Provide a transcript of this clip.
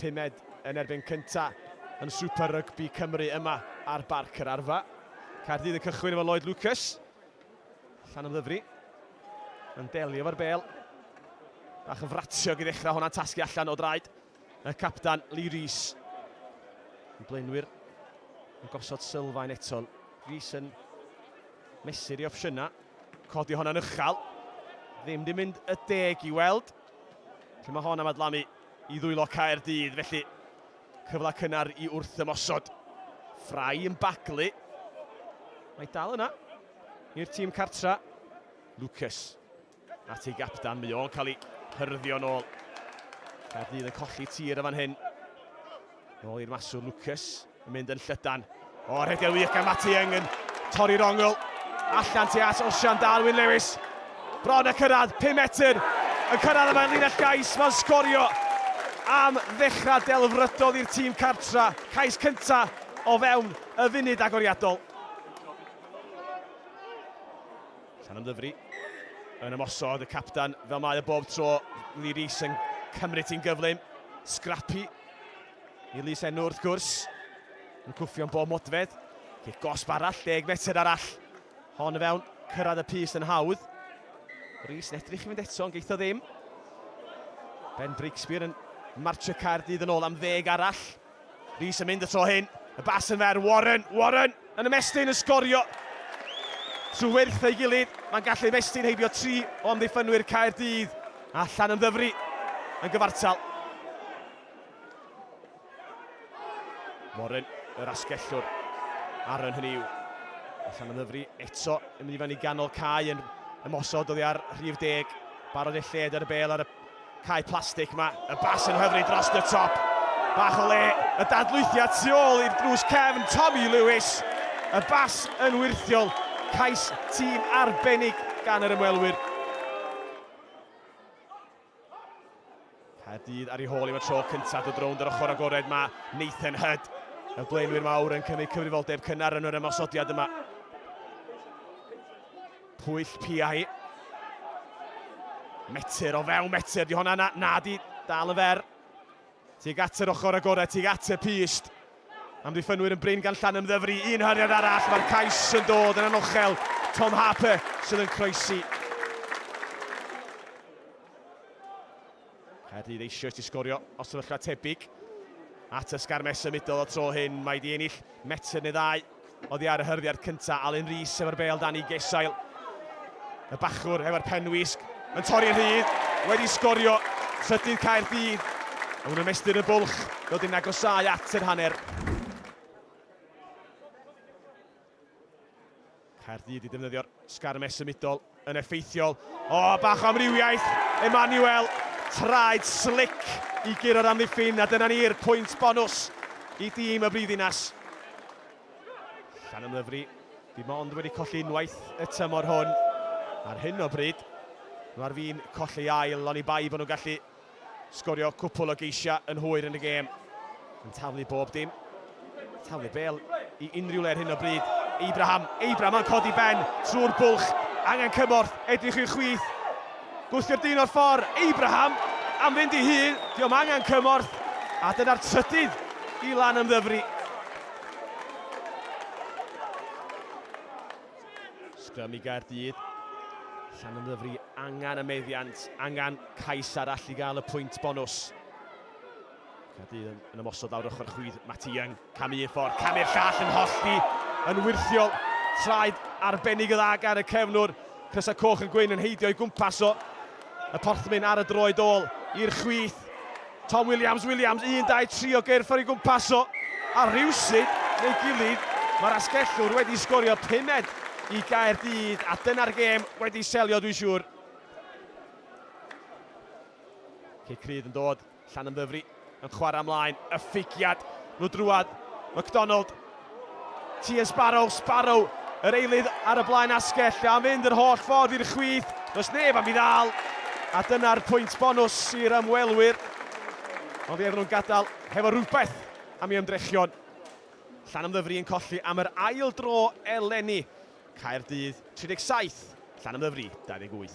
Pumed yn erbyn cynta yn Super Rygbi Cymru yma ar Barc yr Arfa. Caerdydd yn cychwyn efo Lloyd Lucas. Allan ymddyfri. Yn delio fo'r bel. Bach yn fratiog i ddechrau hwnna'n tasgu allan o draed y capdan Lee Rees. Yn blaenwyr yn gosod sylfaen eto. Rees yn mesur i opsiynau. Codi hwnna'n uchel. Ddim di mynd y deg i weld. Lle mae hon am adlamu i ddwylo Caerdydd, felly cyfle cynnar i wrth ymosod. Ffrau yn baglu. Mae dal yna i'r tîm cartra. Lucas at ei gapdan, mae o'n cael ei hyrddio nôl. Caerdydd yn colli tir y fan hyn. Nôl i'r maswr Lucas, yn mynd yn llydan. O, rhedeg wych gan Matty Young yn torri'r ongl. Allan ti at Osian Darwin Lewis. Bron y cyrraedd, 5 metr. Yn cyrraedd y mae'n linell gais, mae'n sgorio am ddechrau delfrydol i'r tîm cartra. Cais cynta o fewn y funud agoriadol. Llan ymddyfri yn ymosod y captan fel mae y bob tro. Lee Rees yn cymryd ti'n gyflym. Scrappy I'r lys enw wrth gwrs. Yn cwffio'n bob modfedd. Cic gosb arall, deg metr arall. Hon y fewn, cyrraedd y pys yn hawdd. Rhys yn edrych i fynd eto, ond geitho ddim. Ben Breakspear yn marcio Caerdydd yn ôl am ddeg arall. Rhys yn mynd y tro hyn. Y bas yn fer, Warren, Warren! Yn ymestyn yn sgorio trwy wyrth ei gilydd, mae'n gallu ymestyn heibio tri o amddiffynwyr Caerdydd a Llanymddyfri yn gyfartal. Warren, yr asgellwr, Aaron hynny yw. Llanymddyfri eto yn mynd i fyny ganol cae yn ymosod oddi ar rhif deg. Barod ei lled ar y bel ar y Cae plastig, mae y bas yn hyfryd dros y top. Bach o le, y dadlwythiad tu ôl i'r drws cefn, Tommy Lewis. Y bas yn wyrthiol, cais tîm arbennig gan yr ymwelwyr. Caerdydd ar ei hôl i fod tro cyntaf dod rownd yr ochr agored, mae Nathan Hyd, y blaenwyr mawr yn cymryd cyfrifoldeb cynnar yn yr ymosodiad yma. Pwyll piau. Metr o fewn metr, di honna na, na di dal y fer. Tig at yr ochr agored, tig at y pist. Amddiffynwyr yn brin gan llan ymddyfru, un hariad arall, mae'r cais yn dod yn anochel. Tom Harper sydd yn croesi. Caerdydd eisoes di sgorio o sefyllfa tebyg at y sgarmes symudol y tro hyn. Mae di ennill metr neu ddau oddi ar y hyrddiad cyntaf. Alun Rees efo'r bel dan i gesail. Y bachwr efo'r penwisg yn torri rhydd. Wedi sgorio trydydd Caerdydd. Ond yn ymestyn y bwlch, dod i'n agosau at yr hanner. Caerdydd i ddefnyddio'r sgarmes symudol yn effeithiol. O, bach o amrywiaeth, Emmanuel, traed slic i guro'r amddiffyn, a dyna ni'r pwynt bonws i dîm y Brifddinas. Llanymddyfri, dim ond wedi colli unwaith y tymor hwn. Ar hyn o bryd, nhw ar fin colli ail, oni bai bod nhw'n gallu Sgorio cwpwl o geisiau yn hwyr yn y gêm. Yn taflu bob dim. Taflu bel i unrhyw le ar hyn o bryd. Abraham, Abraham yn codi ben trwy'r bwlch. Angen cymorth, edrych i'r chwith. Gwthio'r dyn o'r ffordd, Abraham am fynd i hun, diolch angen cymorth. A dyna'r trydydd i lan ymddyfri. Sgrym i Gaerdydd. Llan yn ddyfru, angen y meddiant, angen cais arall i gael y pwynt bonws. Caerdydd yn, yn ymosod lawr ochr chwydd Matty Young. Cam un ffordd, cam i'r llall yn hollti, yn wirthiol. Traed arbennig y dda gan y cefnwr. Crysau Coch yn gwyn yn heidio i gwmpas o. Y porthmyn ar y droed ôl i'r chwith. Tom Williams, Williams, 1, 2, 3 o gyrff ar ei gwmpas o. A rhywsyd, neu gilydd, mae'r asgellwr wedi sgorio pumed i Gaerdydd a dyna'r gêm wedi selio dwi'n siŵr. Cic rydd yn dod Llanymddyfri yn chwarae ymlaen, y ffigiad, nhw drwad, McDonald, Tia Sparrow, Sparrow, yr eilydd ar y blaen asgell, a mynd yr holl ffordd i'r chwith, does neb am i ddal, a dyna'r pwynt bonws i'r ymwelwyr. Ond ie, nhw'n gadael hefo rhywbeth am i ymdrechion Llanymddyfri yn colli am yr ail dro eleni. Caerdydd 37, Llanymddyfri 28.